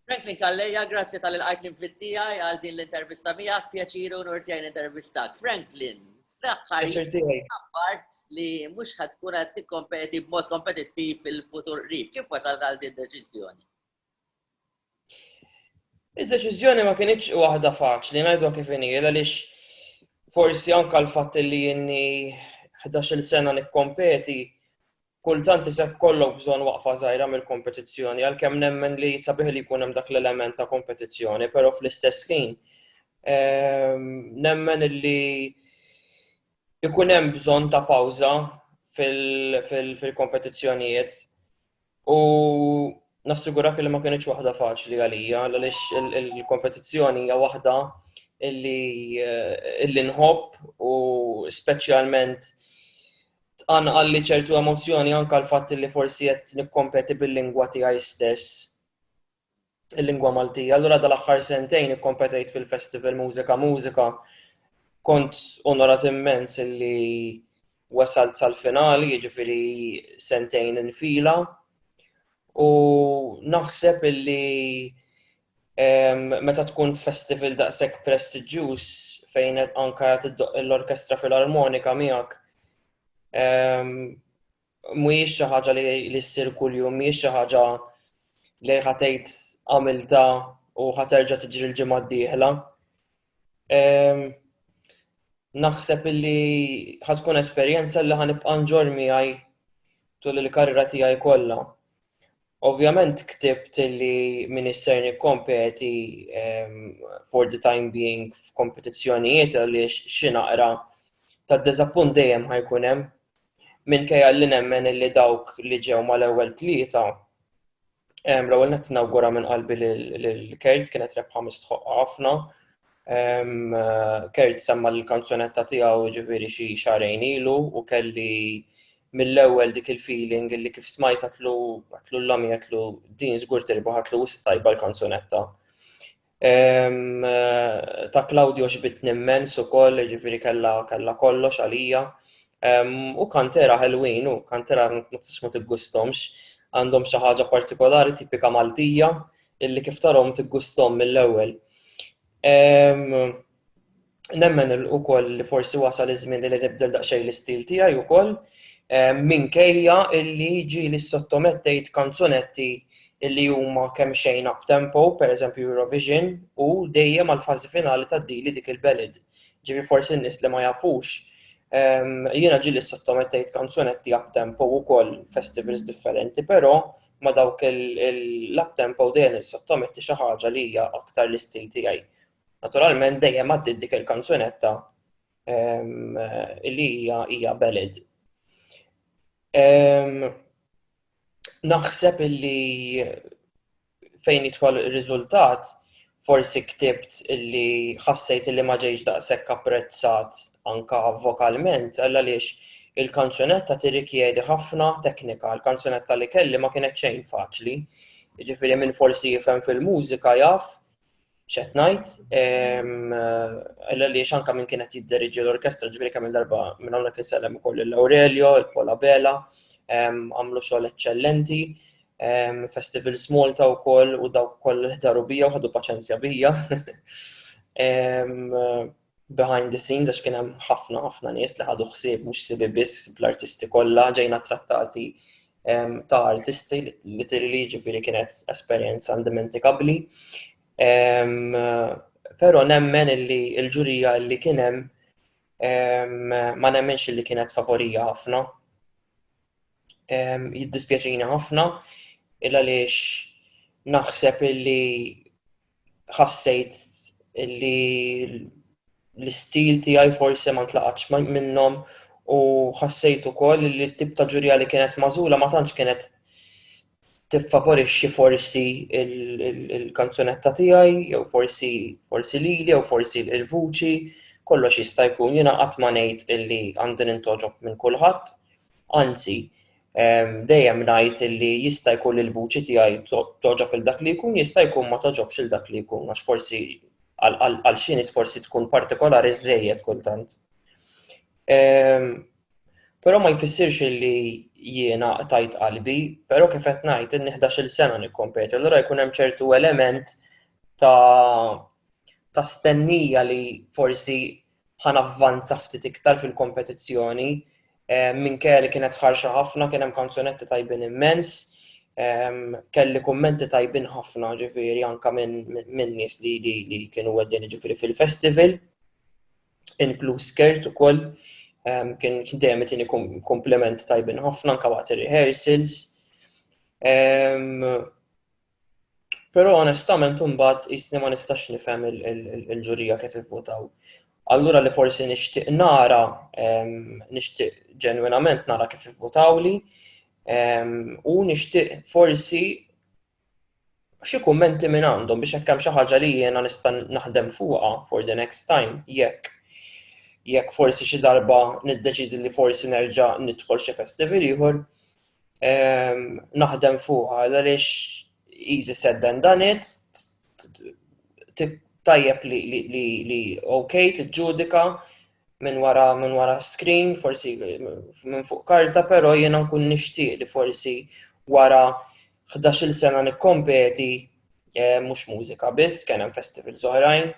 Franklin Calleja, grazzi tal ilqajt l-invit tiegħi għal din l-intervista miegħek, pjaċiru nortijaj l-intervistak. Franklin, fl-aħħar kabbart li mhux ħad tkun qed tikkompeti b'mod kompetittiv fil-futur qrib. Kif wasal għal din deċiżjoni? Id-deċiżjoni ma kienitx waħda faċli, ngħidu kif inhi, għaliex forsi anka l-fatt li inni 11-il sena nikkompeti Kultant isek tkollok bżonn waqfa żgħira mill-kompetizzjoni għalkemm nemmen li sabiħ li jkun hemm dak l-element ta' kompetizzjoni, però fl-istess ħin ehm, nemmen li jkun hemm bżonn ta' pawża fil-kompetizzjonijiet u nassigura li ma kienx waħda faċli għalija għaliex il-kompetizzjoni hija waħda illi eh, nħobb u speċjalment tqanqal li ċertu emozzjoni anke l-fatt li forsi qed nikkompeti bil-lingwa tiegħi stess, il-lingwa Maltija. Allura dal-aħħar sentejn ikkompetejt fil-Festival Mużika Mużika. Kont onorat immens li wasalt sal-finali, jiġifieri sentejn infila. U naħseb illi meta tkun festival daqshekk prestiġjuż fejn anka tiddoq l-orkestra filarmonika miegħek mhuwiex xi ħaġa li ssir kuljum, mhijiex xi ħaġa li ħatejt għamilta u ħaterġa' tiġri l-ġimgħa d-dieħla. Naħseb illi ħatkun esperjenza li ħanibqa' nġorr miegħi tul il-karriera tiegħi kollha. Ovvjament ktibt li minix ser nikkompeti for the time being f'kompetizzjonijiet għaliex xi naqra tad-deżappunt dejjem ħajkun hemm. Minkejja li nemmen li dawk li ġew mal-ewwel tlieta L-ewwel nett nawgura minn qalbi lil Kate kienet rebħa mistħoqqa ħafna Kurt semma l-kanzunetta tiegħu ġifieri xi xarejn ilu u kelli mill-ewwel dik il-feeling li kif smajt għatlu għatlu l-lami għatlu din żgur tirbu għatlu wisq tajba l-kanzunetta. Ta' Claudio xbit nimmen su koll, ġifiri kella kella kollox għalija. U kantera ħelwin, u kantera ma tiggustomx, għandhom xi ħaġa partikolari tipika Maltija illi kif tarom tiggustom mill-ewwel. Nemmen ukoll li forsi wasal iż-żmien li nibdel daqsxejn l-istil tiegħi wkoll minkejja illi ġi li sottomettejt kanzunetti illi huma kemm xejn up tempo, pereżempju Eurovision, u dejjem għal fażi finali ta' di li dik il-belid. Ġifi forsi n-nies li ma jafux, jiena ġi li sottomettejt kanzunetti up tempo wkoll festivals differenti, però ma' dawk l-uptempo dejjem insottometti xi ħaġa li hija aktar l-istil tiegħi. Naturalment dejjem għaddit dik il-kanzunetta ehm, li hija hija beled. Ehm, naħseb illi fejn jidħol ir-riżultat forsi ktibt illi ħassejt illi ma ġejx daqshekk apprezzat anka vokalment għaliex il-kanzunetta tirrikjedi ħafna teknika, il-kanzunetta li kelli ma kienet xejn faċli. Ġifieri minn forsi jifhem fil-mużika jaf x'qed ngħid, ehm, għaliex anka minn kienet jidderiġi l-orkestra ġifieri kemm il-darba minn hawnhekk isellem ukoll l-Aurelio, il-Pola Bela, ehm, għamlu xogħol eċċellenti. Festivals Malta wkoll u dawk koll ħdaru bija u ħadu paċenzja bija. Behind the scenes għax kien hemm ħafna ħafna nies li ħadu ħsieb mhux sibi biss bl-artisti kollha ġejna trattati ta' artisti li tirili ġifieri kienet esperjenza indimentikabbli. Però nemmen illi l-ġurija li kien hemm ma nemmenx li kienet favorija ħafna jiddispjaċini ħafna il għaliex naħseb illi ħassejt illi l-istil tiegħi forsi ma ntlaqatx minnhom u ħassejt ukoll li t-tip ta' ġurja li kienet mażula ma tantx kienet tiffavorixxi forsi il-kanzunetta tiegħi, jew forsi forsi lili, jew forsi il-vuċi, kollox jista' jkun jiena qatt ma ngħid illi għandi nintoġob minn kulħadd, anzi ehm, dejjem ngħid illi jista' jkun li l-vuċi tiegħi toġob il dak li jkun, jista' jkun ma toġobx il dak li jkun, għax forsi għal xi nies forsi tkun partikolari żejjed kultant. Ehm, Però ma jfissirx illi jiena qtajt qalbi, però kif qed ngħid ilni ħdax-il sena nikkompeti, allura jkun hemm ċertu element ta' ta' stennija li forsi ħa navvanza ftit iktar fil-kompetizzjoni. Minkejja li kienet ħarxa ħafna, kien hemm kanzunetti tajbin immens, kelli kummenti tajbin ħafna ġifieri anke minn nies li kienu għedin ġifieri fil-festival. inkluż skert ukoll. Um, kien dejjem itini komplement tajbin ħafna anka waqt ir-rehearsals. Um, Però onestament imbagħad jisni ma nistax nifhem il-ġurija kif ivvotaw. Allura li forsi nixtieq nara, nixtieq ġenwinament nara kif ivvotawli, u nixtieq forsi Xi kummenti min għandhom biex jekk hemm xi ħaġa li jiena nista' naħdem fuqha for the next time jekk jekk forsi xi darba niddeċiedi li forsi nerġa' nidħol xi festival ieħor ehm, naħdem fuqha għaliex easy said than done it tajjeb li li li ok tiġġudika minn wara minn wara screen, forsi minn fuq karta, però jiena nkun nixtieq li forsi wara 11-il sena nikkompeti eh, mhux mużika biss, kien hemm festivals oħrajn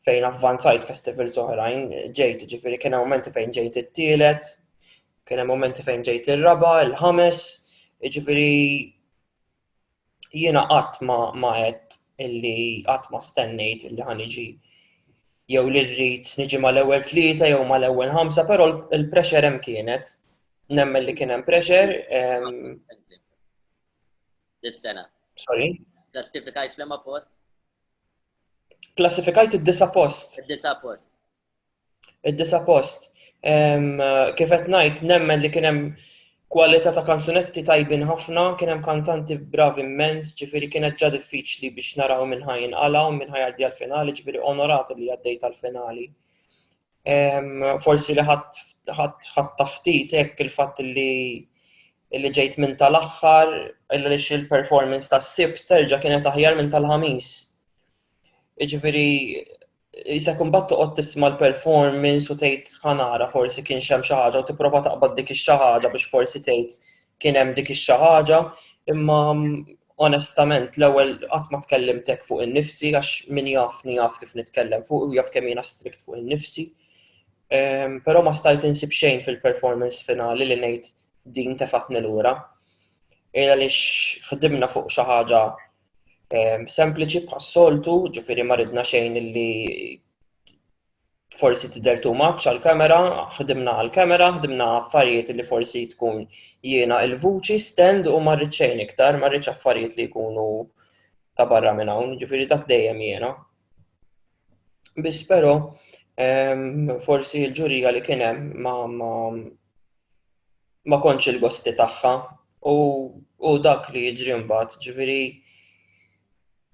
fejn avvanzajt festivals oħrajn, ġejt ġifieri kien hemm momenti fejn ġejt it-tielet, kien hemm momenti fejn ġejt ir-raba, il-ħames, ġifieri jiena qatt ma ma għedt illi qatt ma stennejt illi ħan iġi jew li rrid niġi mal-ewwel tlieta jew mal-ewwel ħamsa, però l-pressure hemm kienet. Nemmen li kien hemm pressure. Ehm, Dis-sena. Sorry. Klassifikajt fl-ema post? Klassifikajt id-disa post. Id-disa post. Id-disa' post. Kif qed ngħid, nemmen li kien hemm kwalità ta' kanzunetti tajbin ħafna, kien hemm kantanti bravi mmens, ġifieri kienet ġa diffiċli biex naraw min ħa jinqala' u min ħa jgħaddi għall-finali, ġifieri onorat li għaddejt għall-finali. Forsi li ħadtha ftit hekk il-fatt li li ġejt minn tal-aħħar għaliex il-performance tas-Sibt terġa' kienet aħjar minn tal-Ħamis. Jiġifieri Isek imbagħad toqgħod tisma' l-performance u tgħid ħanara forsi kien xem xi ħaġa u tipprova taqbad dik ix-xi ħaġa biex forsi tgħid kien hemm dik ix-xi ħaġa, imma onestament l-ewwel qatt ma tkellimtek fuq in-nifsi għax min jafni jaf kif nitkellem fuq u jaf kemm jiena strikt fuq in-nifsi. Ehm, però ma stajt insib xejn fil-performance finali li ngħid din tefatni lura. Għaliex ħdimna fuq xi ħaġa sempliċi bħas-soltu, ġifieri ma ridna xejn illi forsi tidher too much għall-kamera, ħdimna għall-kamera, ħdimna affarijiet li forsi tkun jiena il-vuċi stand u ma rrid xejn iktar, ma rridx affarijiet li jkunu ta' barra minn hawn, ġifieri dak dejjem jiena. Biss però forsi l-ġurija li kien hemm ma ma kontx il-gosti tagħha u, u dak li jiġri mbagħad, ġifieri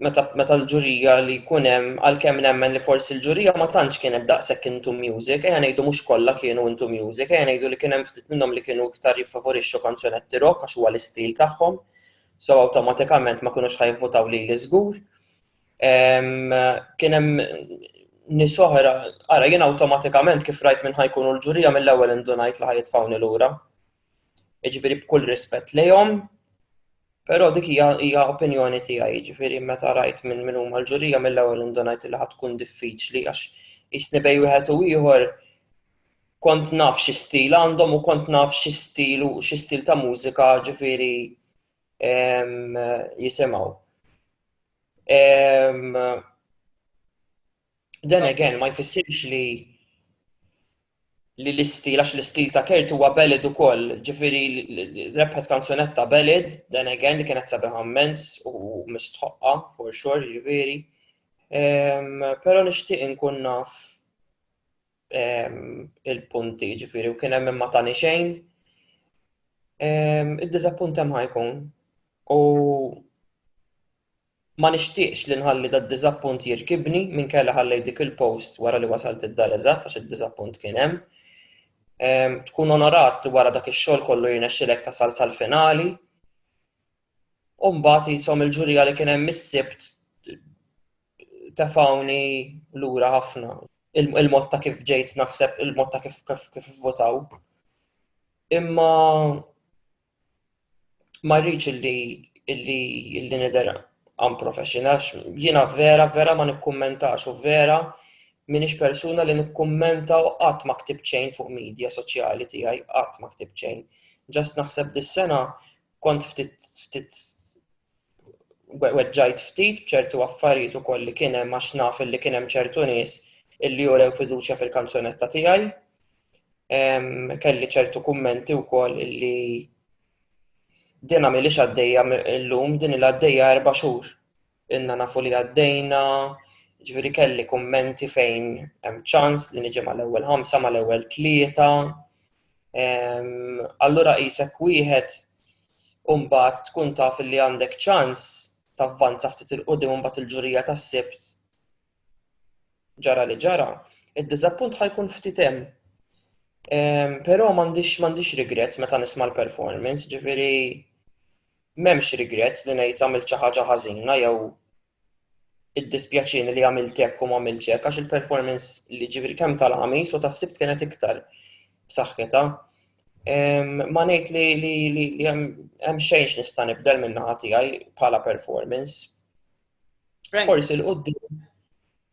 meta, meta l-ġurija li jkun hemm għalkemm nemmen li forsi l-ġurija ma tantx kienet daqshekk into music, ejja ngħidu mhux kollha kienu into music, ejja ngħidu li kien hemm ftit minnhom li kienu iktar jiffavorixxu kanzunetti rock għax huwa l-istil tagħhom, so awtomatikament ma kinux ħajvvutaw lili żgur. Kien hemm nies oħra, ara jien awtomatikament kif rajt minn ħajkunu l-ġurija mill-ewwel indunajt li ħajitfawni lura. Jiġifieri b'kull rispett lejhom, però dik hija opinjoni tiegħi, jiġifieri meta rajt minn min huma l-ġurija mill-ewwel indunajt li ħad tkun diffiċli għax jisni bej wieħed u ieħor kont naf xi stil għandhom u kont naf xi stil u xi stil ta' mużika ġifieri jisimgħu. Then again, ma jfissirx li li l-istil, għax l-istil ta' Kert huwa belid ukoll, ġifiri rebħet kanzunetta belid, dan again li kienet sabiħa immens u mistħoqqa, for sure, ġifiri. Pero nixtieq inkun naf il-punti ġifiri u kien hemm ma tani xejn. Id-diżappunt hemm ħajkun u ma nixtieqx li nħalli da diżappunt jirkibni minn kella ħallej dik il-post wara li wasalt id-dar eżatt għax id-diżappunt kien hemm. Tkun onorat wara dak ix-xogħol kollu jirnexxilek tasal sal-finali. U mbagħad ishom il-ġurija li kien hemm is-sibt tefawni lura ħafna. Il-mod ta' kif ġejt naħseb, il-mod ta' kif kif votaw. Imma ma rridx illi illi illi nidher għam professionax, jiena vera vera ma nikkummentax u vera minix persuna li nikkummenta u qatt ma ktib xejn fuq media soċjali tiegħi, qatt ma ktib xejn. Ġast naħseb dis-sena kont ftit ftit weġġajt ftit bċertu affarijiet ukoll li kien hemm għax naf li kien hemm ċertu nies illi jurew fiduċja fil-kanzunetta tiegħi. Kelli ċertu kummenti wkoll illi din għamilix għaddejja illum, din il għaddejja erba' xhur. Ilna nafu li għaddejna, ġifieri kelli kummenti fejn hemm ċans li niġi mal-ewwel ħamsa, mal-ewwel tlieta. Ehm, allura qisek wieħed u mbagħad tkun taf li għandek ċans tavvanza ftit il-qudiem u mbagħad il-ġurija tas-sibt ġara li ġara, id-diżappunt ħajkun ftit hemm. Ehm, però m'għandix m'għandix regrets meta nisma' l-performance, ġifieri M'hemmx regrets li ngħid għamilt xi ħaġa ħażina jew iddispjaċini li għamilt hekk u m'għamiltx hekk għax il-performance li ġifieri kemm tal-Ħamis u tas-Sibt kienet iktar b'saħħitha. Ehm, ma ngħid li li li li hemm xejn x'nista' nibdel minn naħa tiegħi bħala performance. Forsi l qudiem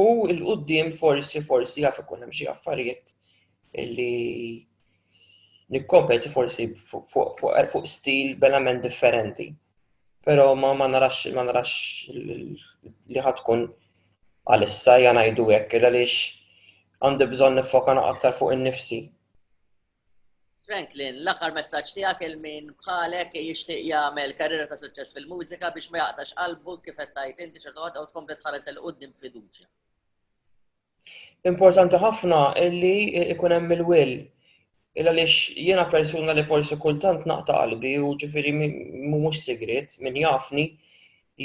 U il-qoddim forsi forsi jaf ikun hemm xi affarijiet li nikkompeti forsi fuq stil belament differenti. Però ma ma narax ma narax li ħad tkun għalissa jgħanajdu hekk għaliex għandi bżonn nifoka aktar fuq in-nifsi. Franklin, l-aħħar messaġġ tiegħek il min bħalek jixtieq jagħmel karriera ta' suċċess fil-mużika biex ma jaqtax qalbu kif qed tgħid inti xorta waħda u tkompli tħares 'il quddiem b'fiduċja. Importanti ħafna li jkun hemm il-will Illa lix jiena persuna li forsi kultant naqta qalbi u ġifiri mhux sigrit minn jafni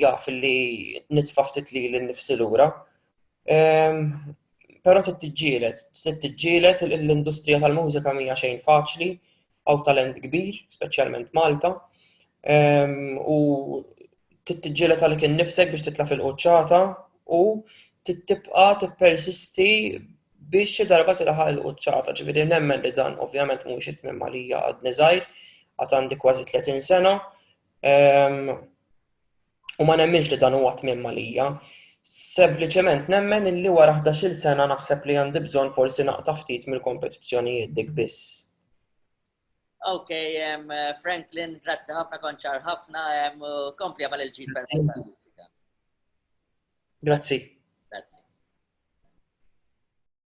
jaf li nitfa' ftit li l-nifsi lura Però trid tiġġieled, trid tiġġieled l-industrija tal-mużika mija xejn faċli, għaw talent kbir, speċjalment Malta, u trid tiġġieled għalik innifsek biex titla' fil-quċċata u tibqa' tippersisti biex xi darba tilħaq il-quċċata, ġifieri nemmen li dan ovvjament mhuwiex it-tmiem għalija għad niżgħir, għad għandi kważi 30 sena, U ma nemminx li dan huwa tmiem għalija. Sempliċement nemmen illi wara 11-il sena naħseb li għandi bżonn forsi naqta' ftit mill-kompetizzjonijiet dik biss. Ok, Franklin, grazzi ħafna konċar ħafna, kompli għamal il-ġid per Grazzi.